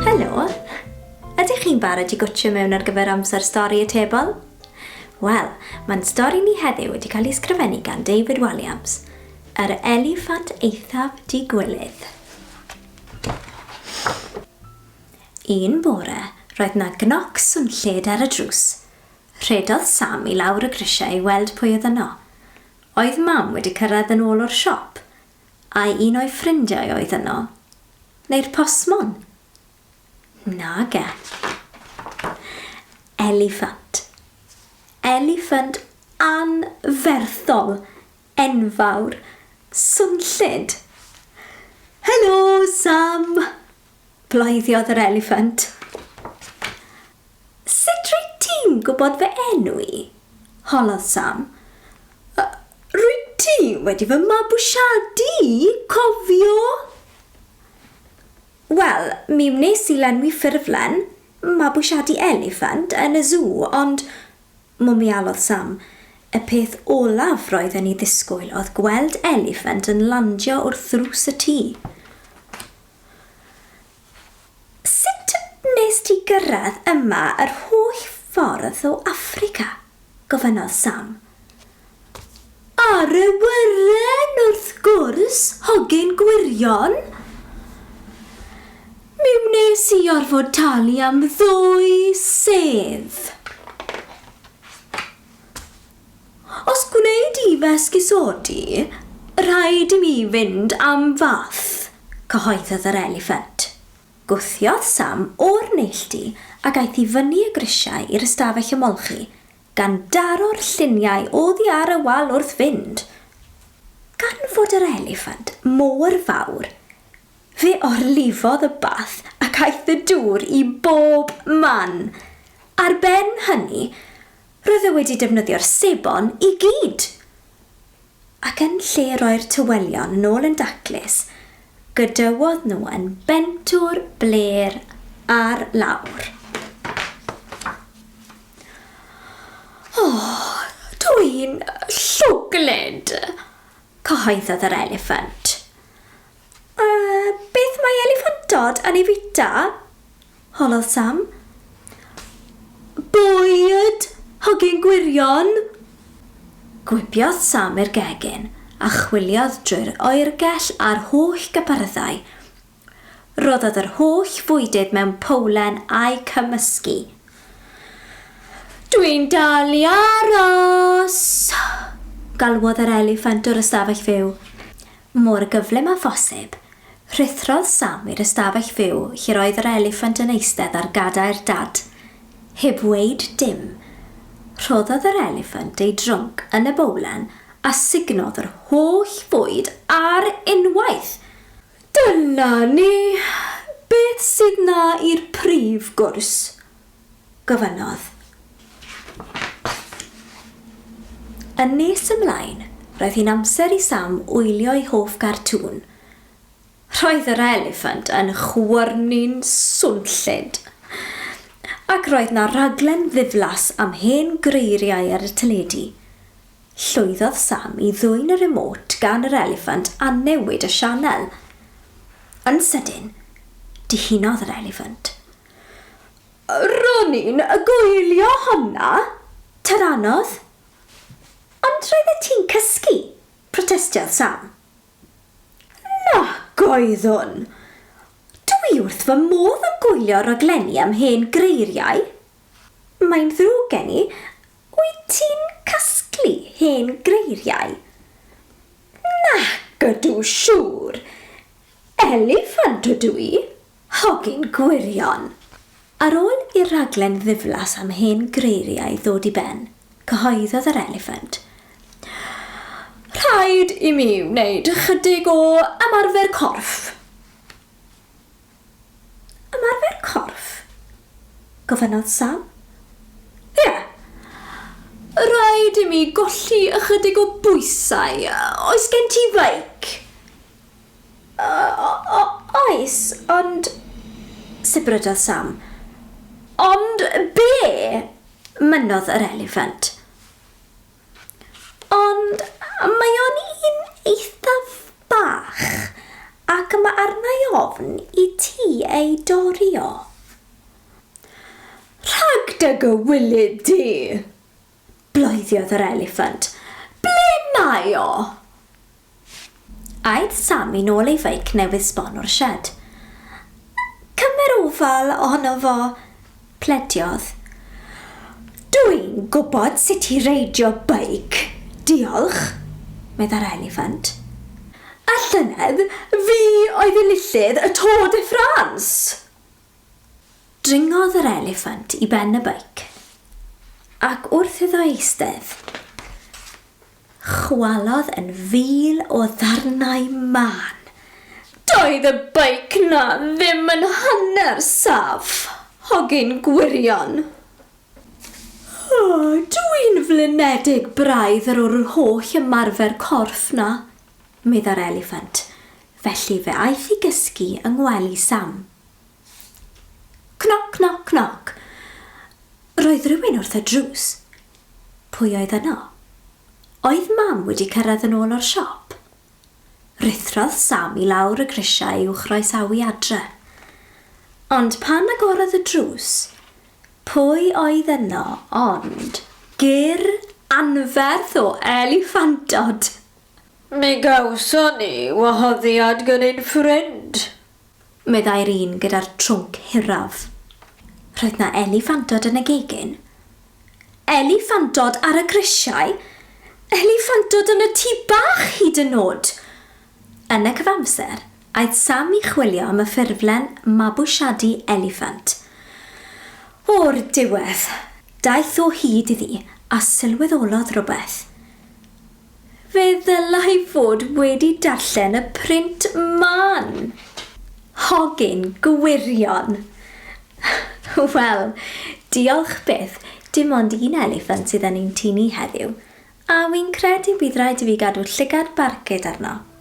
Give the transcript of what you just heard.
Helo! Ydych chi'n barod i gwtio mewn ar gyfer amser stori y tebol? Wel, mae'n stori ni heddiw wedi cael ei sgrifennu gan David Walliams, yr eliffant eithaf digwilydd. Un bore, roedd na gnoc swnllyd ar y drws. Rhedodd Sam i lawr y grisiau i weld pwy oedd yno. Oedd Mam wedi cyrraedd yn ôl o'r siop? Ai un o'i ffrindiau oedd yno? Neu'r postmon? Nage. Eliffant. Eliffant anferthol, enfawr, swnllyd! Helo, Sam! Bleidiodd yr eliffant. Sut rwyt ti'n gwybod fy enw i? holodd Sam. Y, rwyt ti wedi fy mabwysiadu i, cofio? Wel, mi wnes i lenwi ffurflen, mabwysiadu eliffant, yn y sŵ, ond, mwmialodd Sam, y peth olaf roedden ni ddisgwyl oedd gweld eliffant yn landio wrth ddrws y tŷ. Sut wnest ti gyrraedd yma yr holl ffordd o Affrica? gofynnodd Sam. Ar awyren, wrth gwrs, hogyn gwirion! Mi wnes i orfod talu am ddwy sedd. Os gwneud i fy esgusodi, rhaid i mi fynd am fath, cyhoeddodd yr eliffant. Gwthiodd Sam o'r neilltu ac aeth i fyny y grisiau i'r ystafell ymolchi, gan daro'r lluniau oddi ar y wal wrth fynd. Gan fod yr eliffant mor fawr, fe orlifodd y bath ac aeth y dŵr i bob man. Ar ben hynny, Roedd e wedi defnyddio'r sebon i gyd! Ac yn lle roi'r tywelion yn ôl yn daclus, gadawodd nhw yn bentwr blêr ar lawr. O, dw i'n llwglyd! cyhoeddodd yr eliffant. A beth mae eliffantod yn ei fwyta? holodd Sam. Bwyd! Hogyn gwirion! Gwibiodd Sam i'r gegin a chwiliodd drwy'r oergell a'r holl gypyrddau. Rhoddodd yr holl fwydydd mewn powlen a'u cymysgu. Dwi'n dal i aros! galwodd yr eliffant o'r ystafell fyw. Mor gyflym â phosib, rhuthrodd Sam i'r ystafell fyw lle'r oedd yr eliffant yn eistedd ar gadair dad. Heb weud dim, rhoddodd yr eliffant ei drunk yn y bowlen a sugnodd yr holl fwyd ar unwaith! Dyna ni! Beth sydd 'na i'r prif gwrs? gofynnodd. Yn nes ymlaen, roedd hi'n amser i Sam wylio'i hoff gartŵn. Roedd yr eliffant yn chwyrnu'n swnllyd, ac roedd 'na raglen ddiflas am hen greiriau ar y teledu. Llwyddodd Sam i ddwyn y remote gan yr eliffant a newid y sianel. Yn sydyn, dihunodd yr eliffant, Ro'n i'n goelio honna, ta'r anodd. Ond roeddet ti'n cysgu, protestiodd Sam. Nac oeddwn! Dw i wrth fy modd yn goelio raglenni am hen greiriau. Mae'n ddrwg gen i, wyt ti'n casglu hen greiriau? Nac ydw, siŵr! Eliffant ydw i! Hogyn gwirion! Ar ôl i'r rhaglen ddiflas am hen greiriau ddod i ben, cyhoeddodd yr eliffant, Rhaid i mi wneud ychydig o ymarfer corff. Ymarfer corff? gofynnodd Sam. Ie. Rhaid i mi golli ychydig o bwysau. Oes gen ti feic? O- o- oes, ond, sibrydodd Sam, ond be? mynnodd yr eliffant. Ond mae o'n un eithaf bach, ac mae arna'i ofn i ti ei dori o. Rhag dy gywilydd di! Bloediodd yr eliffant. Ble mae o? Aeth Sam i nôl ei feic newydd sbon o'r sied. Cymer ofal ohono fo, plediodd. Dw i'n gwybod sut i reidio beic, diolch, meddai'r eliffant. A llynedd, fi oedd enillydd y Tour de France! Dringodd yr eliffant i ben y beic, ac wrth iddo eistedd, chwalodd yn fil o ddarnau mân. Doedd y beic 'na ddim yn hanner saff, hogyn gwirion! O, dw i'n flinedig braidd ar yr holl ymarfer corff 'na, meddai'r eliffant, felly fe aeth i gysgu yng ngwely Sam. Knock, knock, knock. Roedd rhywun wrth y drws. Pwy oedd yno? Oedd Mam wedi cyrraedd yn ôl o'r siop? Ruthrodd Sam i lawr y grisiau i'w chroesawu adre. Ond pan agorodd y drws, pwy oedd yno ond gyrr anferth o eliffantod! Mi gawson ni wahoddiad gan ein ffrind. meddai'r un gyda'r trwnc hiraf. Roedd 'na eliffantod yn y gegin. Eliffantod ar y grisiau! Eliffantod yn y tŷ bach hyd yn nod! Yn y cyfamser, aeth Sam i chwilio am y ffurflen mabwysiadu eliffant. O'r diwedd, daeth o hyd iddi a sylweddolodd rywbeth. Fe ddylai fod wedi darllen y print man! Hogyn gwirion! Wel, diolch byth, dim ond un eliffant sydd yn ein tŷ ni heddiw, a wi'n credu bydd rhaid i fi gadw llygad barcud arno.